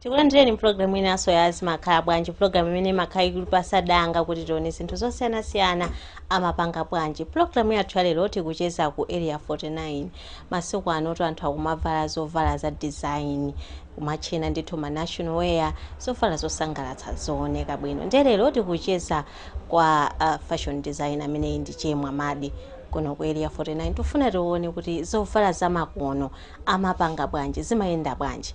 tikulandireni pulogalamu inanso ya zimakhala bwanji pulogalamu imene imakhala ikutipatsa danga kuti tione zinthu zosiyanasiyana amapanga bwanji pulogalamu yathu ya lero tikucheza ku area 49 masiku anotu anthu akumavala zovala za design kumatchena ndithu ma national wear zovala zosangalatsa zooneka bwino ndiye lero tikucheza kwa uh, fashion designer ameneyi ndi che mwamadi kuno ku area 49 tikufuna tione kuti zovala zamakono amapanga bwanji zimayenda bwanji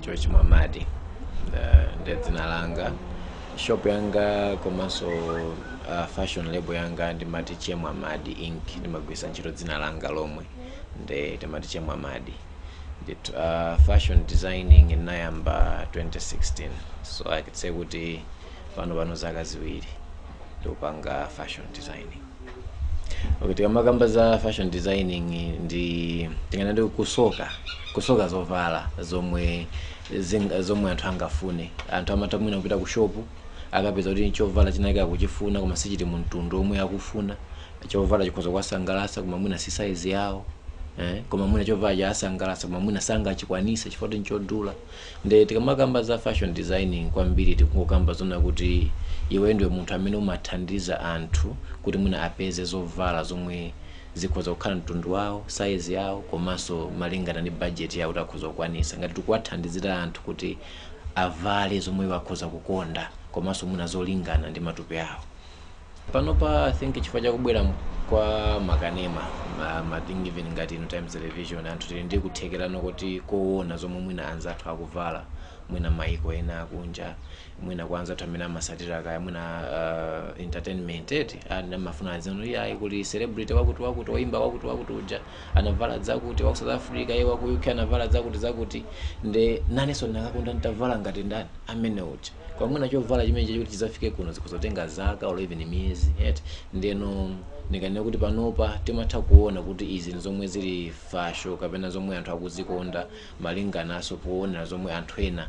Che Mwamadi uh, ndi dzina langa shop yanga komanso uh, fashion label yanga ndimati Che Mwamadi Inc ndimagwiritsa ntchito dzina langa lomwe nde ndimati Che Mwamadi Nde, uh, fashion designing ndinayamba 2016 so I can say kuti pano pano zaka ziwiri ndikupanga fashion designing Okay, tikamakamba za fashion designing ndi tinganene ndi kusoka kusoka zovala zomwe zinga, zomwe anthu angafune anthu amatha mwina kupita ku shopu akapeza kuti chovala chinake akuchifuna koma sichili mu mtundu omwe akufuna chovala chikhoza kuwasangalatsa koma mwina si size yawo eh? koma mwina chovala chawasangalatsa koma mwina sangachikwanise chifukwa kuti nchodula Nde tikamakamba za fashion designing kwambiri tikungokamba zonena kuti iweyo ndiwe munthu amene umathandiza anthu kuti mwina apeze zovala zomwe zikhoza kukhala mtundu wawo, size yawo komanso malingana ndi budget yawo kuti akhoza kukwanisa. Ngati tikuwathandizira anthu kuti avale zomwe iwo akhoza kukonda komanso mwina zolingana ndi matupi awo. panopa i think chifukwa chakubwera m- kwa makanema ma, ma TV even ngati ino times television anthu tili ndi kuthekera kuti koona zomwe mwina anzathu akuvala mwina maiko ena akunja mwina kwa anzathu amene amasatira kaya mwina uh, entertainment eti amafuna aziti iyayi kuti celebrity wakuti wakuti oyimba wakuti wakuti uja anavala zakuti waku south africa iye waku uk anavala zakuti zakuti nde nanenso ndinakakonda nditavala ngati ndani amene uja koma mwina chovala chimenechocho kuti chidzafike kuno zikhoza kutenga zaka or even miyezi eti ndeno ndikanena kuti panopa timatha kuona kuti izi ndi zomwe zili fasho kapena zomwe anthu akuzikonda malingananso poona zomwe anthu ena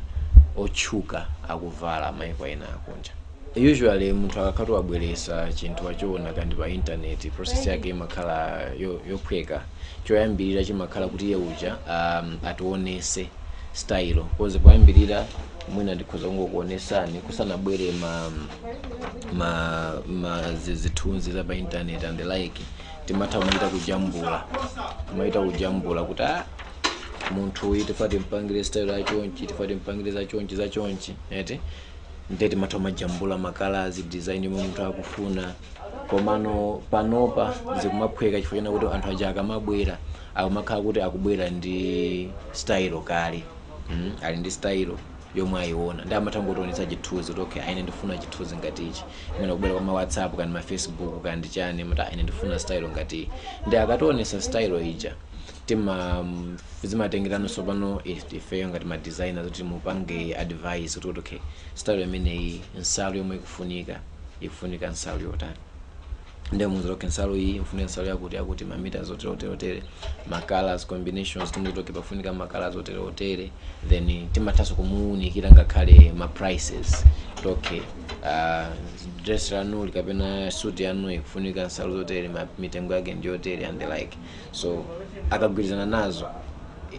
otchuka akuvala maiko ena akunja usually munthu akakhala kuti wabweresa chinthu wachiona kandi pa intaneti process yake imakhala yo- yophweka choyambirira chimakhala kuti iye uja um, ationese style cause poyambirira mwina ndikhoza kungokuonesani kusanabwere ma ma, ma zi- zithunzi za pa intaneti and the like timachita kumachita kujambula kumachita kujambula kuti ah, munthu uyu tifuna timpangire style ya chonchi tifuna timpangire za chonchi za chonchi eti ndiye timatha kumajambula kumakalazi design yomwe munthu akufuna komano panopa zikumaphweka chifukwa chonena kuti anthu aja akamabwera akumakhala kuti akubwera ndi style kale mm, ali ndi style yomwe ayiona ndi amatha kungotionetsa chithunzi kuti okay aine ndifuna chithunzi ngati ichi mwina kubwera kwa ma whatsapp kaya ndi ma facebook kaya ndi chani amati aine ndifuna style ngati iyi ndi akationesa style ija tima zimatengera no sopano if- ifeyo ngati ma designers kuti timupange advice kuti kuti okay style imeneyi nsalu yomwe ikufunika ikufunika nsalu yotani nde timuuza okay nsalu iyi ikufunika nsalu yakuti yakuti mamita zotere otere otere ma colors combinations timuuza okay pafunika ma colors otere otere then timathanso kumuunikira ngakhale ma prices kuti okay uh, dress lanuli kapena suit yanu ikufunika nsalu zotere ma- mitengo yake ndiyotere and the like so akagwirizana nazo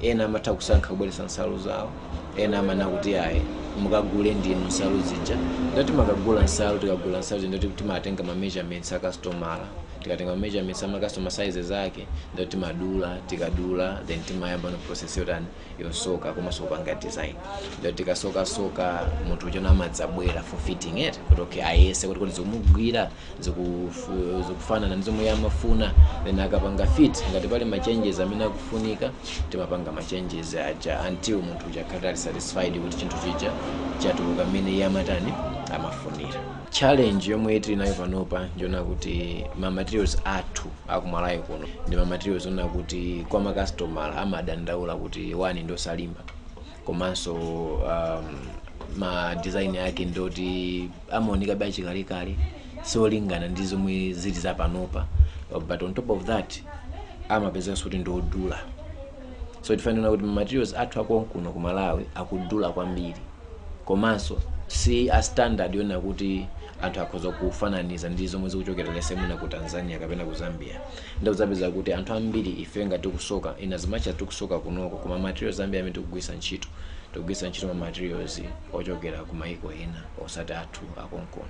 ena amatha kusankha kubweretsa nsalu zawo ena amanena kuti ayi mukagule ndinu nsalu zija nde timakagula nsalu tikagula nsalu zija nde timatenga ma measurements a customer tikatenga ma measurements a ma customer sizes ake nde timadula tikadula then timayamba no process yotani yosoka komanso kupanga design ndiye tikasokasoka munthu uja no amadzabwera for fitting it kuti okay ayese kuti kuti zikumugwira zikufu- zikufanana ndi zomwe iye amafuna then akapanga fit ngati pali ma changes amene akufunika timapanga ma changes aja until munthu uja akhale ali satisfied kuti chinthu chija chatuluka mmene iye amatani amafunira challenge yomwe tili nayo panopa ndi yonena kuti ma materials athu akumalawi kuno ndi ma materials onena kuti kwa ma customer amadandaula kuti one ndi osalimba komanso um, ma design ake ndoti amaoneka be achikalekale siolingana ndi zomwe zili za panopa but on top of that amapezekanso kuti ndi odula so chifukwa choti ma materials athu akonkuno ku malawi akudula kwambiri komanso si a standard yonena kuti anthu akhoza kufananiza ndi zomwe zikuchokera let's say mwina ku tanzania kapena ku zambia ndiye udzapeza kuti anthu ambiri ife ngati tikusoka in as much as tikusoka kunoko koma ma materials ambiri amene tikugwiritsa ntchito tikugwiritsa ntchito ma materials ochokera ku maiko ena osati athu akonkuno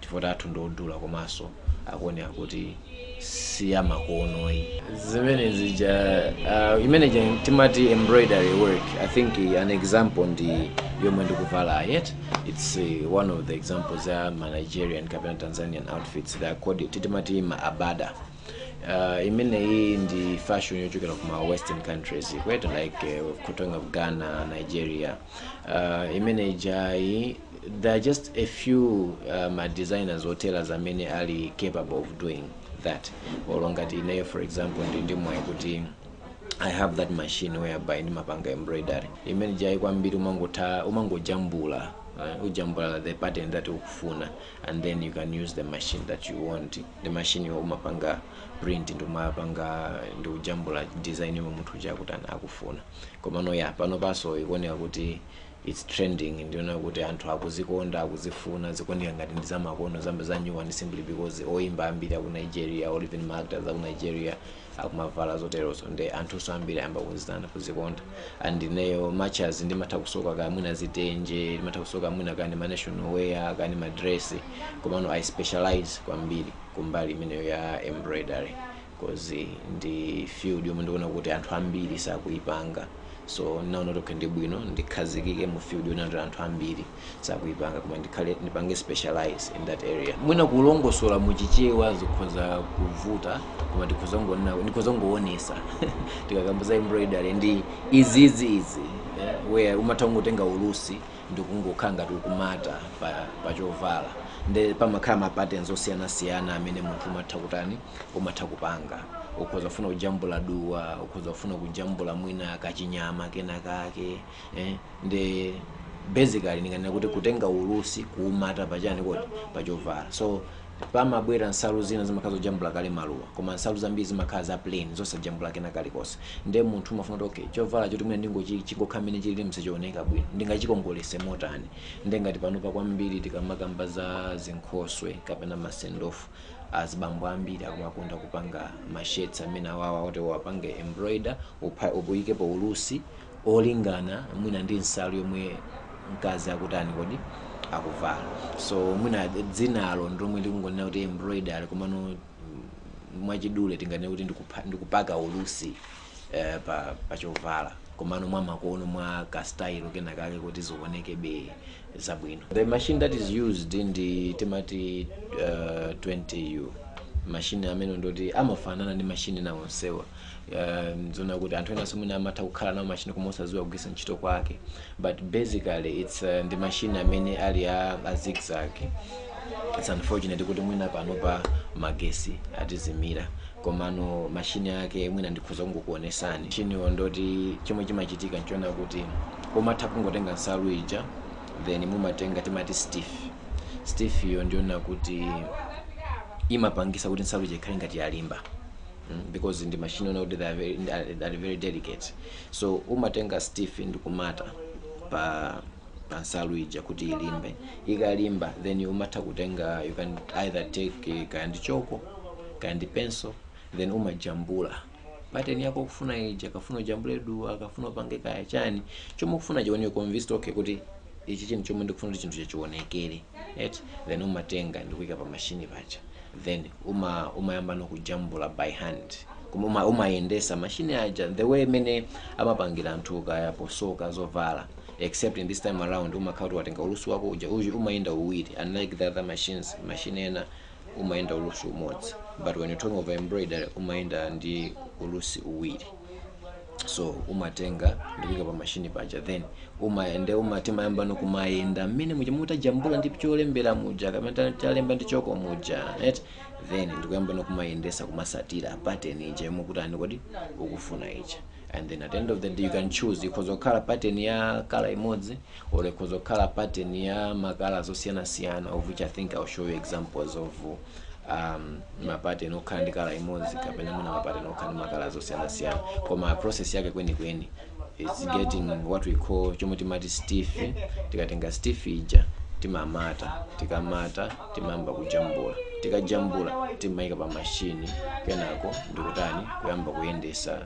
chifukwa athu ndi odula komanso akuoneka kuti si amakono ayi zimene zija uh, imene ija timati embroidery work i think uh, an example ndi yomwe ndikuvala yet it's uh, one of the examples ya ma nigerian kapena tanzanian outfits they are called timati ma agbada uh, imeneyi ndi fashion yochokera ku ma western countries kwetu like uh, talking of ghana nigeria uh, imene ijayi there are just a few uh, ma designers or tailors amene ali capable of doing that olo ngati ineyo for example ndili ndi mwayi kuti i have that machine whereby ndimapanga embroidery imene ijayi kwambiri umangotha umangojambula uh, ujambula the pattern that ukufuna and then you can use the machine that you want the machine yo umapanga print nde umapanga nde ujambula design yomwe munthu uja akuti ana- akufuna komano ya panopanso ikuoneka kuti its trending ndiona kuti anthu akuzikonda akuzifuna zikuoneka ngati ndi zamakono zambazanyuwani simply because oyimba ambiri aku nigeria or even maactors aku nigeria akumavala zoterozo nde anthunso ambiri ayamba kuzitana kuzikonda and ineyo much as ndimatha kusoka kamwina zitenje ndimatha kusoka kamwina kani ma national wear kani madress komano i specialize kwambiri kumbali imeneyo ya embroidery coz ndi field yomwe ndikuona kuti anthu ambiri sakuipanga so ndinaona kuti okay ndibwino ndikhazikike mu field yoona kuti anthu ambiri sakuipanga koma ndipange specialize in that area mwina kulongosola mu chichewa zikhoza kuvuta koma tikhoza kungonena ndikhoza kungoonesa tikakamba za embroidery ndi izizi izi eh, where umatha kungotenga ulusi ndikungokhala ngati ukumata pa, pa chovala nde pamakhala ma patterns osiyanasiyana amene munthu umatha kutani umatha kupanga ukhoza kufuna kujambula duwa ukhoza kufuna kujambula mwina kachinyama kena kake eh? ndi basically ndinganena kuti kutenga ulusi kuumata pachani kodi pachovala so pamabwera nsalu zina zimakhala zojambula kale maluwa koma nsalu zambiri zimakhala za plain zosajambula kena kalikonse nde munthu umafuna kuti okay chovala choti mwina chingochi- chingokhala mmene chilili sichioneka bwino ndingachikongolese motani nde ngati panopa kwambiri tikamakamba za zinkhoswe kapena masendofu azibambo ambiri akumakonda kupanga ma shirts amene awawa oti uwapange embroider upha- uyikepo ulusi olingana mwina ndi nsalu yomwe mkazi akutani kodi akuvala so mwina dzinalo ndilomwe ndikungonena kuti embroidery komano mwachidule tinganene kuti ndikupha- ndikupaka ulusi eh, pa, pa chovala komano mwa makono mwa kastayilo kena kake kuti zionekebe zabwino the machine that is used ndi timati uh, 20u mashini amene ndoti amafanana ndi mashini na onsewa um, nzoona kuti anthu enanso mwina amatha kukhala nawo mashini koma osadziwa kugwiritsa ntchito kwake but basically its uh, ndi machine amene ali a, a zigzag its unfortunate kuti mwina panopa magesi atizimira komano mashini ake mwina ndikhoza kungokuonesani machiniwo ndoti chomwe chimachitika nchona kuti umatha kungotenga nsalu ija then mumatenga timati stiff stiff iyo ndiyoona kuti imapangisa kuti nsalu ija ikhale ngati yalimba mm, because ndi machine ona kuti they are very, ndi- ali ali very delicate so umatenga stiff ndi kumata pa pa nsalu ija kuti ilimbe ikalimba then umatha kutenga you can either take eh, kaya ndi choko kaya ndi pencil then umajambula pateni yako kufuna ija kaya ufuna ujambule duwa kaya ufuna upange kaya chani chomwe ukufuna chione convinced okay kuti ichi chinthu chomwe ndikufuna kuti chinthu chachionekere eti then umatenga ndikuika pa machine paja then uma umayamba nokujambula by hand koma uma- umayendesa machine aja the way imene amapangira anthu kaya posoka zovala except in this time around umakhala kuti watenga ulusi wako uja uyu umayenda uwiri unlike the other machines machine ena umayenda ulusi umodzi but when you're talking of embroidery umayenda ndi ulusi uwiri so umatenga ndikuika pa mashini paja then umayende uma timayamba nokumayenda mmene muja mutajambula ndi cholembera muja kaya mmene ta- talemba ndi choko muja right then ndikuyamba nokumayendesa kumasatira pattern ija yomwe kuti ani kodi ukufuna ija and then at the end of the day you can choose ikhoza kukhala pattern ya kala imodzi or ikhoza kukhala pattern ya makala zosiyanasiyana of which i think i'll show you examples of uh, um, mapateni okhala ndi kala imodzi kapena mwina mapateni okhala ndi makala zosiyanasiyana koma process yake kwenikweni is getting what we call chomwe timati stiff tikatenga stiff ija timamata tikamata timayamba kujambula tikajambula timaika pa mashini kenako ndikutani kuyamba kuyendesa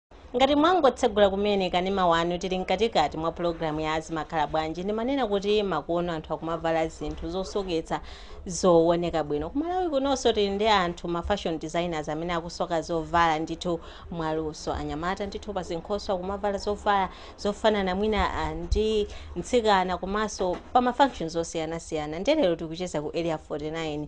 Ngati mwangotsegula kumene kanema wanu, tili mkatikati mwa pulogalamu ya Zimakhala Bwanji. Ndimanena kuti makono anthu akumavala zinthu zosoketsa zooneka bwino. Ku Malawi kunonso tili ndi anthu, ma fashion designers, amene akusoka zovala ndithu mwaluso. Anyamata ndithu pa zinkhoswe akumavala zovala zofanana mwina ah, ndi mtsikana komanso pa ma functions osiyanasiyana. Ndiye lero tikucheza ku Area 49.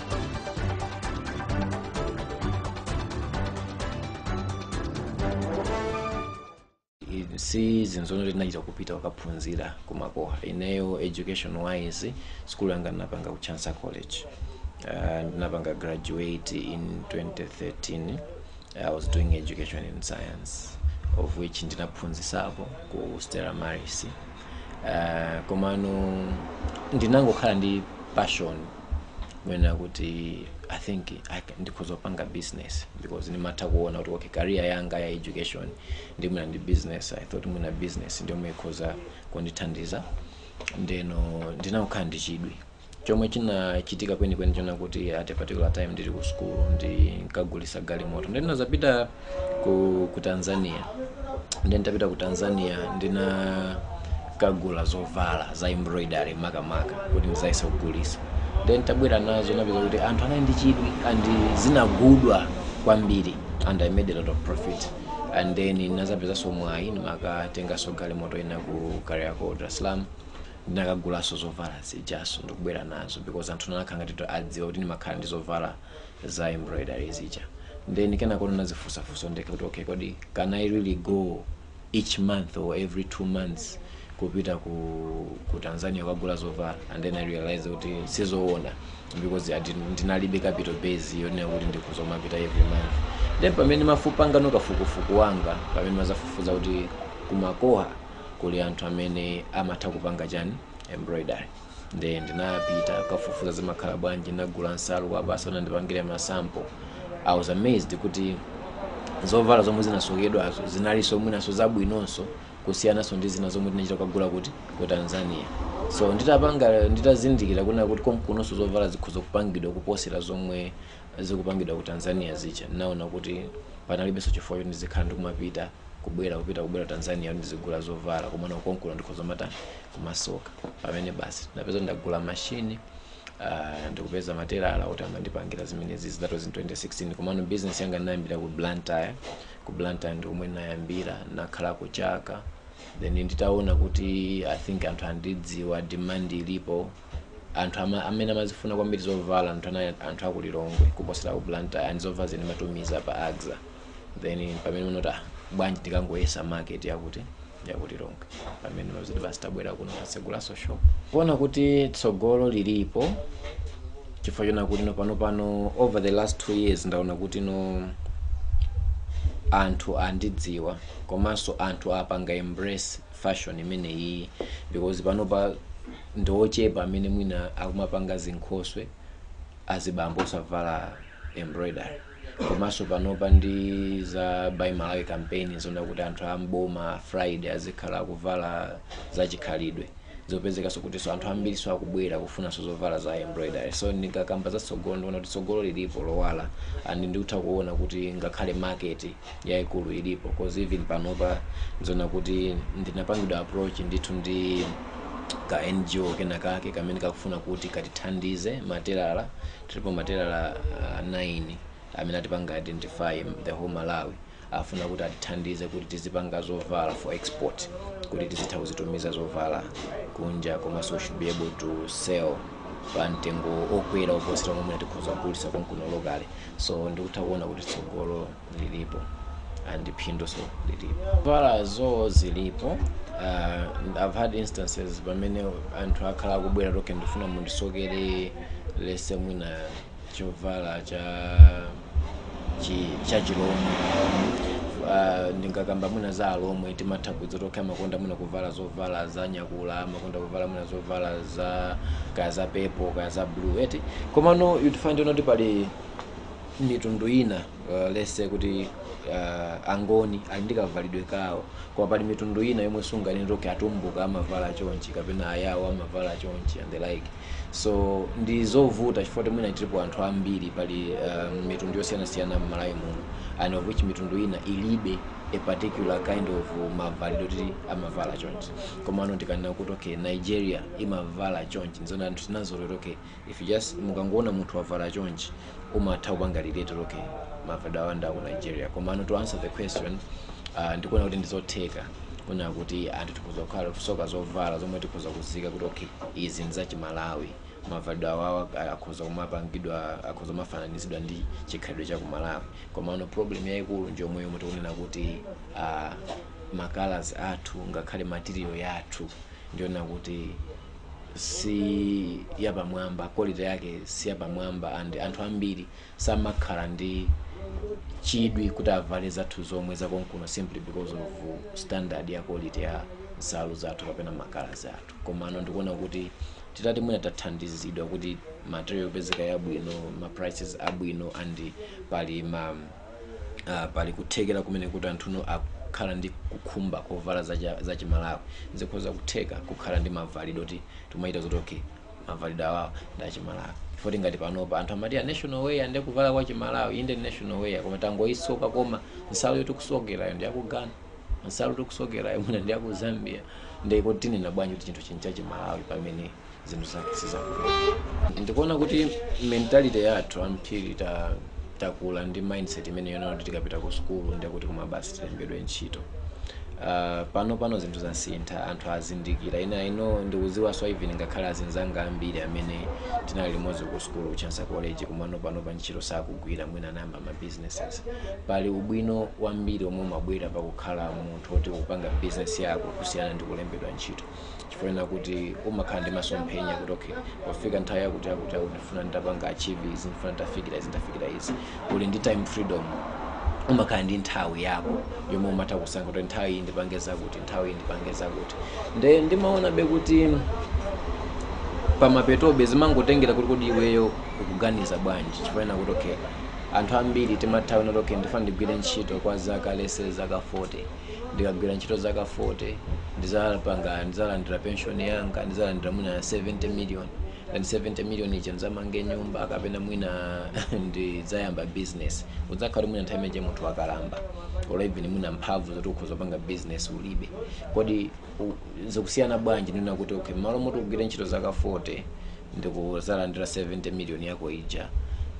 si zinthu zonoti ndinachita kupita kukaphunzira kumakoha ineyo education wise school yanga ndinapanga ku Chancellor college uh, ndinapanga graduate in 2013 i was doing education in science of which ndinaphunzisapo ku stella maris uh, komano ndinangokhala ndi passion kunena kuti i think I can- ndikhoza kupanga business because ndimatha kuona kuti okay career yanga ya education ndi mwina ndi business i thought mwina business ndiyomwe ikhoza kundithandiza ndeno ndinakhala ndi chidwi chomwe chinachitika kwenikweni chona kuti at a particular time ndili ku school ndinkagulisa galimoto ndeno ndinazapita ku, ku tanzania ndi nditapita ku tanzania ndinakagula zovala za embroidery makamaka kuti ndizayese kugulisa ndi nditabwera nazo napeza kuti anthu anali ndi chidwi and zinagudwa kwambiri and i made a lot of profit and then ndinazapezanso mwayi ndinakatenganso galimoto ina ku kariako dar es salaam ndinakagulaso zovala zijaso ndikubwera nazo because anthu anakhala ngati adziwa kuti ndimakhala ndi zovala za embroidery zija then kenako ndinazifunsa funso ndekha kuti okay kodi can i really go each month or every two months kupita ku, ku tanzania kukagula zovala and then i realized kuti sizoona because ndinalibe capital base yonena kuti ndikhoza kumapita every month then pamene ndimapanga no kafukufuku wanga pamene ndinazafufuza kuti kumakoha kuli anthu amene amatha kupanga chani embroidery Nde ndinapita kukafufuza zimakhala bwanji ndinagula nsalu kuwapatsa andipangire ma sample. I was amazed kuti zovala zomwe zinasokedwazo zinalinso mwinanso zabwinonso kusiyananso ndi zina zomwe tinachita kukagula kuti ku Tanzania. So nditapanga nditazindikira kunena kuti komkunonso zovala zikhoza kupangidwa kuposera zomwe zikupangidwa ku Tanzania zija ndinaona kuti panalibenso chifukwa choti ndizikhala ndikumapita kubwera kupita kubwera ku Tanzania kuti ndizigula zovala komano kuti komkuno ndikhoza kumatani kumasoka pamene basi ndinapeza ndagula mashini uh, ndikupeza matelala kuti azindipangira zimenezi that was in 2016 komano business yanga ndinayambira ku blantyre ku blantyre ndi komwe ndinayambira ndinakhalako chaka then nditaona kuti i think anthu andidziwa demand ilipo anthu ama, amene amazifuna kwambiri zovala ndi anthu aku Lilongwe kuposera ku Blantyre and zovala ndimatumiza pa AXA then pamene ndinati ah, bwanji ndikangoyesa market yakuti yakuti Lilongwe pamene unoziti basi tabwera kuno tasegulaso shop kuona kuti tsogolo lilipo chifukwa choona kuti no panopa over the last two years ndaona kuti no anthu andidziwa komanso anthu apanga embrace fashion imeneyi because panopa ndi ochepa amene mwina akumapanga zinkhoswe azibambo osavala embroidery komanso panopa ndi za buy malawi campaign zonena kuti anthu amboma friday azikhala kuvala za chikhalidwe zapezekanso kutinso anthu ambirinso akubwera kufunanso zovala za embroidery so ndikakamba za tsogolo ndikuona kuti tsogolo lilipo lowala and ndikutha kuona kuti ngakhale market yaikulu ilipo cause even panopa ndizoona kuti ndinapangidwa approach ndithu ndi ka ngo kena kake kamene kakufuna kuti katithandize matelala tilipo matelala uh, 9 amene atipanga identify the whole malawi afuna kuti atithandize kuti tizipanga zovala for export kuti tizitha kuzitumiza zovala kunja komanso we should be able to sell pa mtengo okwera oposera momwe tikhoza kugulisa konkuno locally so ndikutha kuona kuti tsogolo lilipo and phinduso lilipo zovalazo zilipo uh, i've had instances pamene anthu akhala akubwera to okay ndifuna mundisokere let's say mwina chovala cha chi, cha chilomwe uh, ndingakamba mwina za alomwe timatha kuziona to okay amakonda mwina kuvala zovala za nyakula amakonda kuvala mwina zovala za kaya za purple kaya za blue eti komano you'd find kuti pali mitundu ina uh, let's say kuti uh, angoni ali ndi kavalidwe kawo koma pali mitundu ina yomwe sunganene kuti atumbuka amavala chonchi kapena ayawo amavala chonchi and the like so ndizovuta chifukwa kuti mwina tilipo anthu ambiri pali um, mitundu yosiyanasiyana m'malawi muno and of which mitundu ina ilibe a particular kind of mavalidwe kuti amavala chonchi komano ndikanena kuti okay nigeria imavala chonchi nzona anthu tinazolowera okay if you just mukangoona munthu wavala chonchi umatha kupanga relate okay mavalidwe awo nga ku nigeria komano to answer the question uh, ndikuona kuti ndizotheka kunena kuti anthu tikhoza kukhala kusoka zovala zomwe tikhoza kuziika kuti okay izi nzachimalawi mavalidwe awawa akhoza kumapangidwa akhoza kumafananizidwa ndi chikhalidwe cha kumalawi komano problem yayikulu njomwe yomwe tikunena kuti uh, ma colours athu ngakhale material yathu ndinena kuti si yapamwamba quality yake si yapamwamba and anthu ambiri samakhala ndi chidwi kuti avale zathu zomwe zakonkuno simply because of standard ya quality ya nsalu zathu kapena ma colours athu komano ndikuona kuti titati mwina tathandizidwa kuti material yopezeka yabwino ma prices abwino and pali ma uh, pali kuthekera kumene kuti anthu akhala ndi khumbo lovala zacha- zachimalawi zikhoza kutheka kukhala ndi mavalidwe oti timayitana kuti okay mavalidwe awawa ndi achimalawi poti ngati panopa anthu amati a national wear ndi kuvala kwa chimalawi inde ndi national wear koma tangoyisoka koma nsalu yotikusokerayo ndi ya ku ghana nsalu yotikusokerayo mwina ndi yakuzambia ndiye tinena bwanji kuti chinthu nchinthu chachimalawi pamene zinthu za- sizakwathu ndikuona kuti mentality yathu ambiri ta takula ndi mindset imene yonena kuti tikapita ku sukulu ndiye kuti koma basi tilembedwe ntchito Uh, pano pano zinthu zasintha anthu azindikira ineyo ndikudziwaso even ngakhale azinzanga ambiri amene tinali limodzi ku sukulu ku chancellor college komano panopa ntchito sakugwira mwina anayamba ma businesses pali ubwino wambiri omwe umabwera pakukhala munthu oti upanga business yako kusiyana ndi kulembedwa ntchito chifukwa kuti umakhala ndi masomphenya kuti okay pofika nthawi yakuti yakuti ndifuna nditapanga achieve izi ndifuna nditafikira izi nditafikira izi uli ndi time freedom umakhala ndi nthawi yako yomwe umatha kusankha kuti nthawi iyi ndipange zakuti nthawi iyi ndipange zakuti nde ndimaonabe kuti pamapetobe zimangotengera kuti kodi iweyo ukuganiza bwanji chifukwa kuti okay anthu ambiri timati kuti okay ndifuna ndigwire ntchito kwa zaka let's say zaka 40 ndikagwira ntchito zaka 40 ndizapanga ndizalandira pension yanga ndizalandira mwina 70 million and 70 million ija ndizamange nyumba kapena mwina ndizayamba business udzakhala mwina nthawi imene munthu wakalamba or even mwina mphamvu zoti ukhoza kupanga business ulibe kodi zikusiyana bwanji ndi kunena kuti okay mmalo moti ugwire ntchito zaka 40 ndikuzalandira 70 million yako ija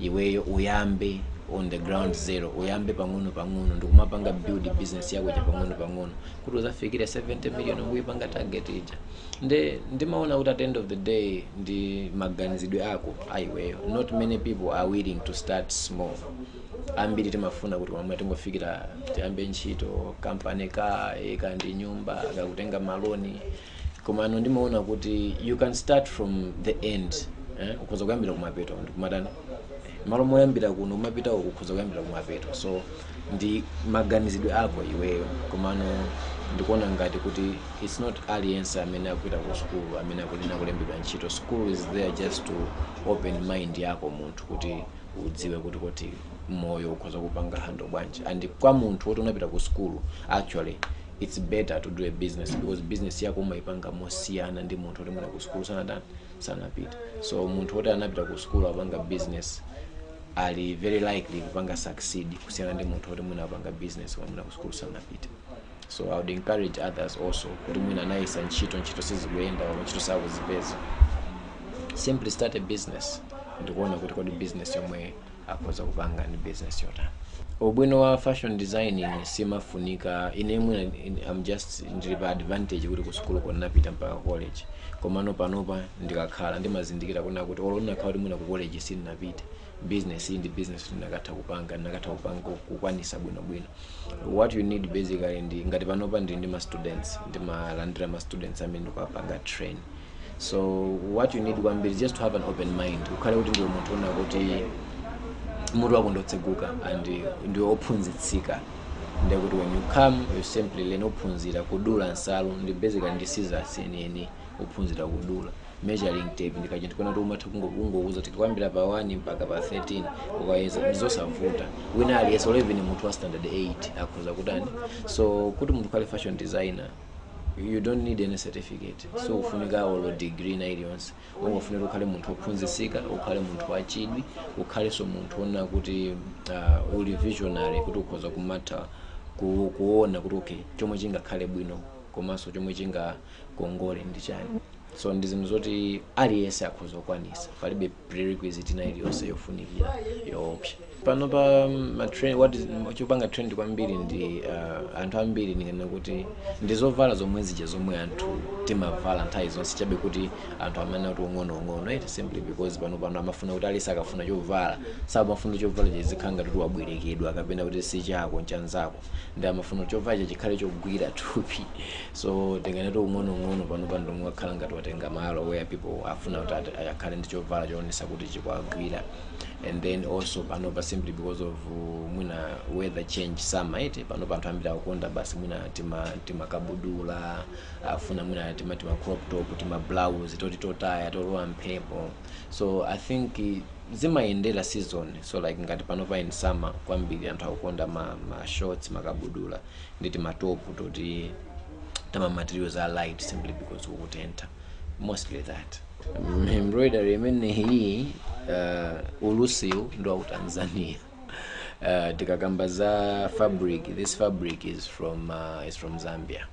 iweyo uyambe on the ground zero uyambe pang'ono pang'ono ndikumapanga build business yako ija pang'ono pang'ono kuti uzafikire 70 million ukuyipanga target ija nde ndimaona kuti at the end of the day ndi maganizidwe ako a iweyo not many people are willing to start small ambiri timafuna kuti mwina tingofikira tiyambe ntchito kampani ka eka ndi nyumba kukatenga maloni komano ndimaona kuti you can start from the end eh? ukhoza kuyambira kumapeto ndikumatani mmalo moyambira kuno kumapita uku ukhoza kuyambira kumapeto so ndi maganizidwe ako iweyo komano ndikuona ngati kuti it's not aliyense amene akupita ku sukulu amene akufuna kulembedwa ntchito school is there just to open mind yako munthu kuti udziwe kuti kuti moyo ukhoza kupanga handle bwanji and kwa munthu woti unapita ku school actually it's better to do a business because business yako umayipanga mosiyana ndi munthu woti mwina ku school sanatani sanapita so munthu woti anapita ku school akupanga business ali very likely kupanga succeed kusiyana ndi munthu woti mwina akupanga business koma mwina ku school sanapita so i would encourage others also kuti mwina anayesa ntchito ntchito sizikuyenda or ntchito sakuzipeza simply start a business ndikuona kuti kodi business yomwe akhoza kupanga ndi business yotani ubwino wa fashion designing simafunika ine mwina in- i'm just ndili pa advantage kuti kusukuluko ndinapita mpaka college komano panopa ndikakhala ndimazindikira kunena kuti olo ndinakakhala kuti mwina ku college sindinapite business iyi ndi business yoti ndinakatha kupanga ndinakatha kupanga kukwanisa bwinobwino what you need basically ndi ngati panopa ndili ndi ma students ndimalandira ma students amene ndikuwapanga train so what you need kwambiri is just to have an open mind ukhale kuti ndiwe munthu wonena kuti mutu wako ndotseguka and ndiwe ophunzitsika ndiye kuti when you come you simply learn uphunzira kudula nsalu ndi basically ndi scissors yeniyeni uphunzira kudula measuring tape ndi kachinthu koona kuti umatha kungo- kungouza kuti kuyambira pa 1 mpaka pa 13 ukayeza ndizosavuta wina aliyense olo even munthu wa standard 8 akhoza kutani so kuti munthu ukhale fashion designer you don't need any certificate sufunika olo degree ina iliyonse ungofunika ukhale munthu ophunzitsika ukhale munthu wachidwi ukhalenso munthu oona kuti uh, uli visionary kuti ukhoza kumatha ku- kuona kuti okay chomwe chingakhale bwino komanso chomwe chingakongole ndi chani so ndi zinthu zoti aliyense akhoza kukwanitsa palibe prerequisite ina iliyonse yofunikira yoopsa panopa mm, ma trend- what is- mm, chopanga trend kwambiri ndi uh, anthu ambiri ndinganene kuti ndi zovala zomwe zija zomwe anthu timavala nthawi zonse chabe kuti anthu amene kuti ung'onoung'ono eti simply because panopa amafuna kuti aliyense akafuna chovala samafuna chovala chizikhala ngati kuti wabwerekedwa kapena kuti si chako ncha nzako ndi amafuna chovalacho chikhale chogwira thupi so ndinganene kuti ung'onoung'ono panopa ndi umene wakhala ngati watenga malo where people afuna kuti ati- akhale ndi chovala choonetsa kuti chikuwagwira and then also panopa simply because of uh, mwina weather change summer eti panopa anthu ambiri akukonda basi mwina tima timakabudula afuna mwina tima tima crop top tima blouse toti totaya tolowa mphepo so i think eh, zimayendera season so like ngati panopa in summer kwambiri anthu akukonda ma, ma shorts makabudula ndi timatopu toti tama materials are light simply because kukutentha mostly that embroidery imeneyi uh, ulusiwu ndi wa ku tanzania uh, tikakamba za fabric this fabric is from uh, is from zambia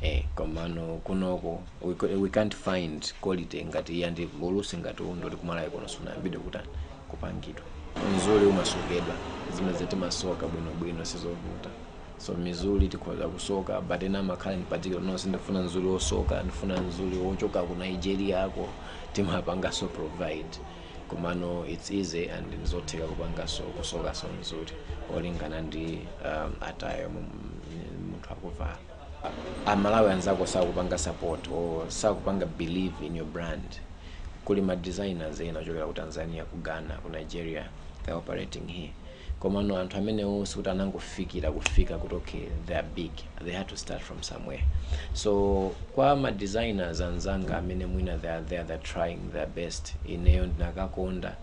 eh, komano kunoko we, co- we can't find quality ngati iyi ndi ulusi ngati uwu ndoti ku Malawi kuno sunayambidwe kutani kupangidwa mizuli umasokedwa zimenezi timasoka bwinobwino sizovuta so mizuli tikhoza kusoka but ena amakhala in particular no sindifuna mzuli wosoka ndifuna mzuli wochoka ku nigeria yako timapanganso provide komano it's easy and nzotheka kupanganso kusokanso mzuli olingana ndi um, attire yo mu- mu- munthu akuvala amalawi anzako sakupanga support or sakupanga believe in your brand kuli ma designers ena ochokera ku tanzania ku ghana ku nigeria they're operating here komano anthu amenewo sikuti anangofikira kufika kuti okay they are big they had to start from somewhere so kwa ma designers anzanga amene mwina they are there they're trying their best ineyo ndikanakonda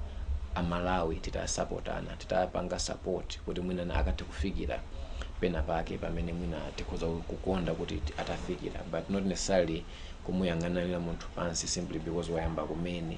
amalawi titasapotana titapanga support kuti mwina na akathe kufikira pena pake pamene mwina tikhoza kukonda kuti ti- atafikira but not necessarily kumuyang'anira munthu pansi simply because wayamba kumene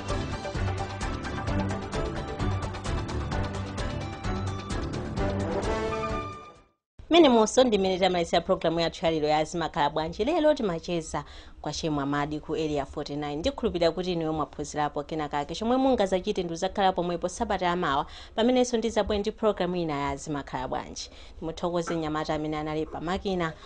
mmenemonso ndimene tamalizila programu yathu yalero ya zimakhala bwanji lero timacheza kwa che mwamadi ku area 49 ndikhulupirira kuti inuyo mwaphunzirapo kena kake chomwe mungazachite ndi uzakhala pomwepo sabata yamawa pamenenso ndizabwere ndi programu ina ya zimakhala bwanji ndimuthokoze nyamata amene anali pamakina